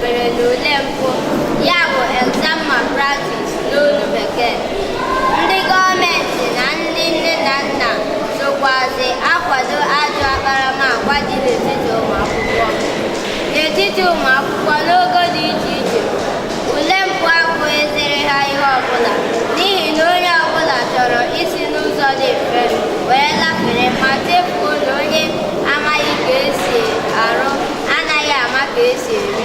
mere n'ule mpụ ya bụ exam malpractice n'olu bekee ndị gọọmenti na ndị nne na nna sokwazi akwado ajọ akparamagwa dị n'etiti ụmụ akwụkwọ n'etiti ụmụ akwụkwọ n'ogo dị iche iche ule mpụ abụghịziri ha ihe ọbụla n'ihi na onye ọbụla chọrọ isi n'ụzọ dị mfe wee lafere ma chefuo na onye amaghị ka esi arụ anaghị ama ka esi eri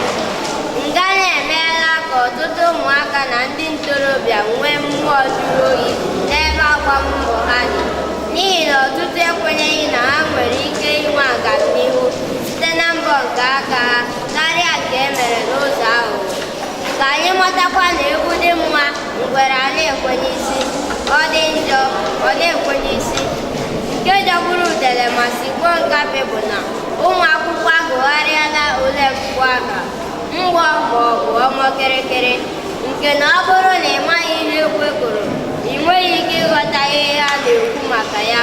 ngana emeela ka ọtụtụ ụmụaka na ndị ntorobịa nwee mmụọ jụrụ oyi n'ebe agbammbọ ha dị n'ihi na ọtụtụ ekwenyeghị na ha nwere ike inwe agamnihu site na mbọ nke aka ha karịa nke e mere n'ụzọ ahụ ka anyị matakwa na egwu dị mma ngwere a na-ekwe n'isi ọ dị njọ ọ na-ekwe n'isi nke jọgburu udele ma sigbuo nkapị bụ na ụmụ akwụkwọ agụgharịala ule mpụ aha mgbọ ma ọ bụ ọmọ kịrịkịrị nke na ọ bụrụ na ị maghị ihe ekwe kụrụ ị nweghị ike ịghọta ihe ha na-ekwu maka ya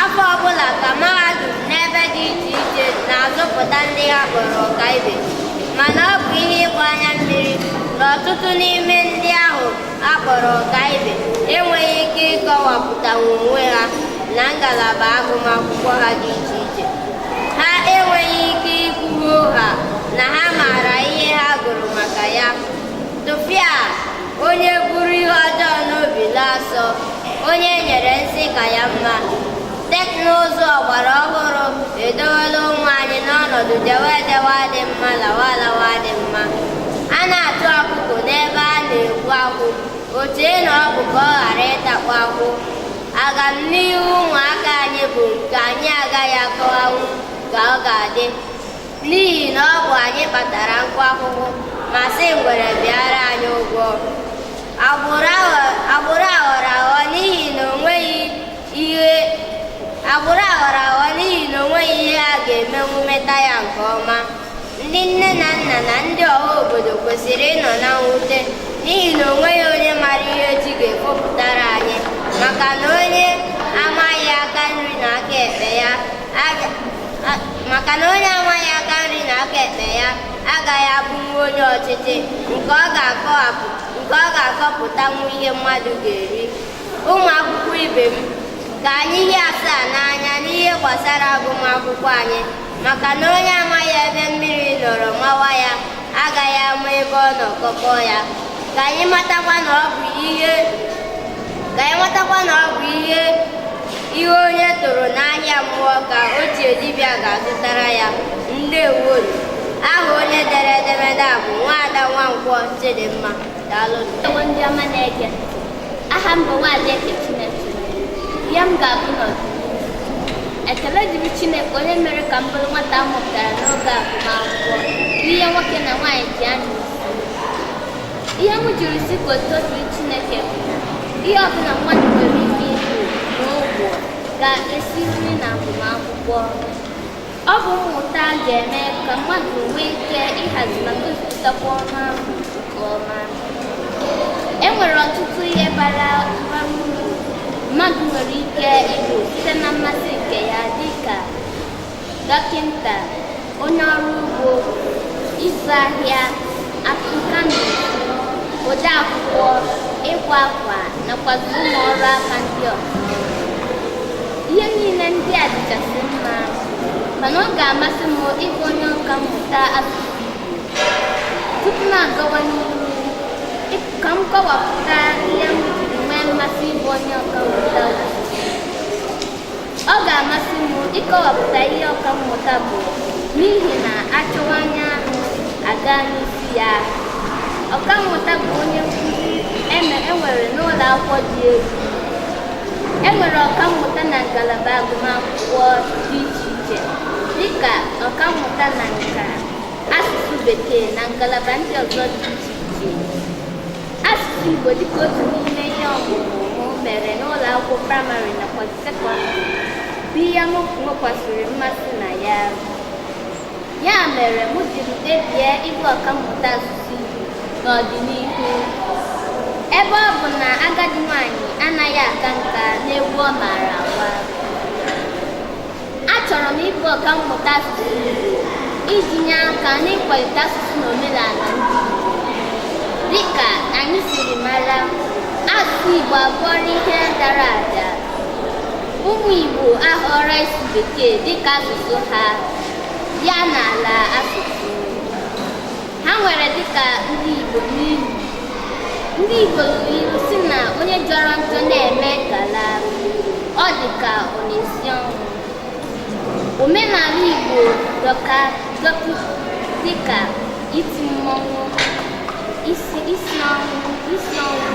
afọ ọbụla ka mahadum n'ebe dị iche iche na-azụpụta ndị ha kpọrọ ọkaibe mana ọ bụ ihe ịgba anya mmiri na ọtụtụ n'ime ndị ahụ a kpọrọ ọkaibe enweghị ike ịkọwapụta onwe ha na ngalaba agụmakwụkwọ ha dị iche iche ha enweghị ike ikwu hoo haa na ha maara ihe ha gụrụ maka ya tụfịa onye buru ihe ọjọọ n'obi na-asọ onye nyere nsi ka ya mma teknụzụ ọgbara ọhụrụ edowela ụmụ anyị n'ọnọdụ jewe ejewe adị mma lawa alawa adị mma a na-achụ ọkụkọ n'ebe a na-egbu akwụ o chee na ọ bụ ka ọ ghara ịtakwa akwụ agamnihu ụmụaka anyị bụ nke anyị agaghị akọwanwu ka ọ ga-adị n'ihi na ọ bụ anyị kpatara nkụ ahụhụ ma sị ngwere bịara anyị ụgwọ agbụrụ aghọrọ aghọ n'ihi na o nweghị ihe agbụrụ aghọrọ aghọ n'ihi na o nweghị ihe a ga-emenwu meta ya nke ọma ndị nne na nna na ndị ọha obodo kwesịrị ịnọ na mwute n'ihi na o nweghị onye mara ihe echi ga-ekpopụtara anyị maka na onye amaghị aka nri na aka ekpe ya maka na onye amaghị aka nri na aka ekpe ya agaghị abụnwu onye ọchịchị nke ọ ga-akọpụtanwu ihe mmadụ ga-eri ụmụ akwụkwọ ibe m ka anyị hie asaa n'anya n'ihe gbasara agụmakwụkwọ anyị maka na onye amaghị ebe mmiri nọrọ mawa ya agaghị ama ebe ọ nọ kọkọ ya ka anyị matakwa na ọ bụ ihe ihe onye tụrụ n'ahịa mmụọ ka oje dibịa ga-azụtara ya ndewo aha onye dere edemede a bụ nwaada nwankwọ chidimma Daalụ ndewo ndị ọma na-ege ntị. Aha m bụ Nwaada Eke Chineke. Ihe m ga-abụ n'ọdịnihu. Ekele dịrị Chineke onye mere ka m bụrụ nwata a mụpụtara n'oge agụmakwụkwọ n'ihe nwoke na nwaanyị ji anya isi. Ihe m jiri sị ka otuto dịrị Chineke bụ na ihe ọbụla mmadụ nwere ike ịbụ n'ụwa ga-esiriri na agụmakwụkwọ. Ọ bụ mmụta ga-eme ka mmadụ nwee ike ịhazi ma gosipụtakwa ọrụ ahụ nke ọma. E nwere ọtụtụ ihe bara bara uru mmadụ nwere ike ịbụ site na mmasị nke ya dị ka dọkịta, onye ọrụ ugbo, ịzụ ahịa, akụkani, ode akwụkwọ, ịkwa akwa nakwazi ụmụ ọrụ aka ndị ọzọ. ihe niile ndị a dịchasị mma mana ọ ga-amasị m ịbụ onye ọka mmụta asụsụ Igbo tupu m agawa n'ihu ka m kọwapụta ihe m jiri nwee mmasị ịbụ onye ọka mmụta ọ ga-amasị m ịkọwapụta ihe ọka mmụta bụ n'ihi na a chọwa anya anụ a gaa n'isi ya ọka mmụta bụ onye nkụzi e nwere n'ụlọ akwụkwọ dị elu e nwere ọkammụta na ngalaba agụmakwụkwọ dị iche iche dịka ọkammụta na nka asụsụ bekee na ngalaba ndị ọzọ dị iche iche asụsụ igbo dịka otu n'ime ihe ọmụmụ mụ mere n'ụlọ akwụkwọ praịmarị nakwa sekọndịrị bụ ihe m nwekwasịrị mmasị na ya ya mere m jiri kpebie ịbụ ọkammụta asụsụ Igbo n'ọdịnihu ebe ọ bụ na agadi nwanyị anaghị aka nka n'egwu ọ maara agba achọrọ m ịbụ ọkammụta asụsụ Igbo iji nye aka n'ịkwalite asụsụ na omenala ndị Igbo dịka anyị siri mara asụsụ Igbo abụọla ihe dara ada ụmụ Igbo ahọrọ ịsụ bekee dịka asụsụ ha ya na ala asụsụ ha nwere dịka ndị Igbo n'ilu ndị Igbo lụrụ ilu sị na onye jọrọ njọ na-eme ngala ọ dị ka ọ na-esi ọnwụ omenala Igbo dọka dọkị dịka iti mmọnwụ isi isi ọnwụ isi ọnwụ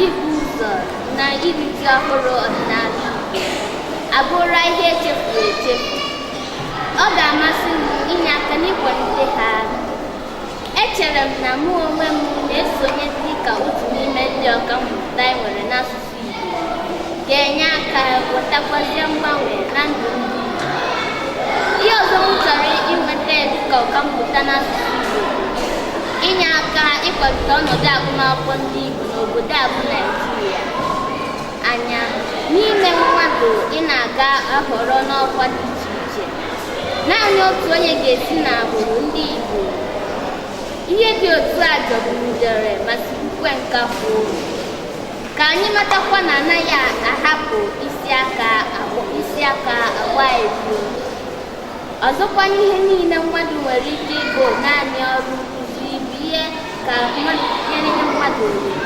ịbọ ụzọ na iri ji ọhụrụ ọdịnala Igbo abụrụla ihe echefuru echefu ọ ga-amasị m inye aka n'ịkwalite ha echere m na mụ onwe m na-esonye dị ka otu n'ime ndị ọka mmụta anyị nwere n'asụsụ Igbo ga-enye aka wetakwazie mgbanwe na ndụ ndị Igbo. ihe ọzọ m chọrọ inweta dị ka ọka mmụta n'asụsụ Igbo inye aka ịkwalite ọnọdụ agụmakwụkwọ ndị Igbo n'obodo a bụ Naijiria anya n'ime mmadụ ịnọ a ga-ahọrọ n'ọkwa dị iche iche naanị otu onye ga-esi n'agbụrụ ndị Igbo ihe dị otu a jọgburu udere ma sigbukwe nkakwụ ka anyị matakwa na a naghị ahapụ isi aka agba isi aka agba ebu ọzọkwa n'ihe niile mmadụ nwere ike ịbụ naanị ọrụ nkuzi bụ ihe ka mmadụ ihe niile mmadụ nwere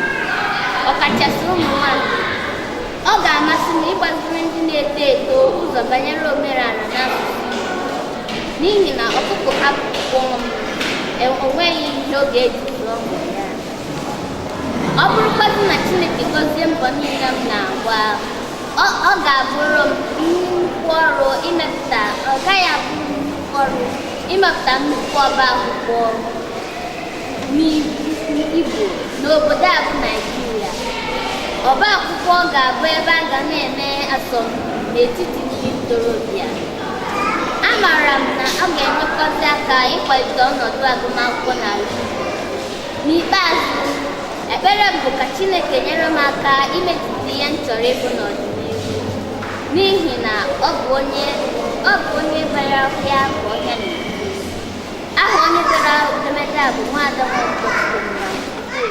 ọkachasị ụmụ nwanyị ọ ga-amasị m ịgbaziri ndị na-eto eto ụzọ banyere omenala na asụsụ n'ihi na ọkụkọ hapụ kwọm, o nweghị ihe ọ ga-eji zụọ ụmụ ya ọ bụrụkwadị na Chineke gọzie mbọ niile m na-agba ọ ga-abụrụ m nnukwu ọrụ imepụta ọ gaghị abụ nnukwu ọrụ imepụta nnukwu ọba akwụkwọ ndị Igbo n'obodo a bụ Naijiria ọba akwụkwọ ga-abụ ebe a ga na-eme asọmpi n'etiti ndị ntorobịa amaara m na ọ ga-enyekwasị aka ịkwalite ọnọdụ agụmakwụkwọ n'ala Igbo n'ikpeazụ ekpere m bụ ka Chineke nyere m aka imetụta ihe m chọrọ ịbụ n'ọdịnihu n'ihi na ọ bụ onye ọ bụ onye bara ọhịa ka ọhịa na aha onye dere edemede a bụ nwaada nwa ụbọchị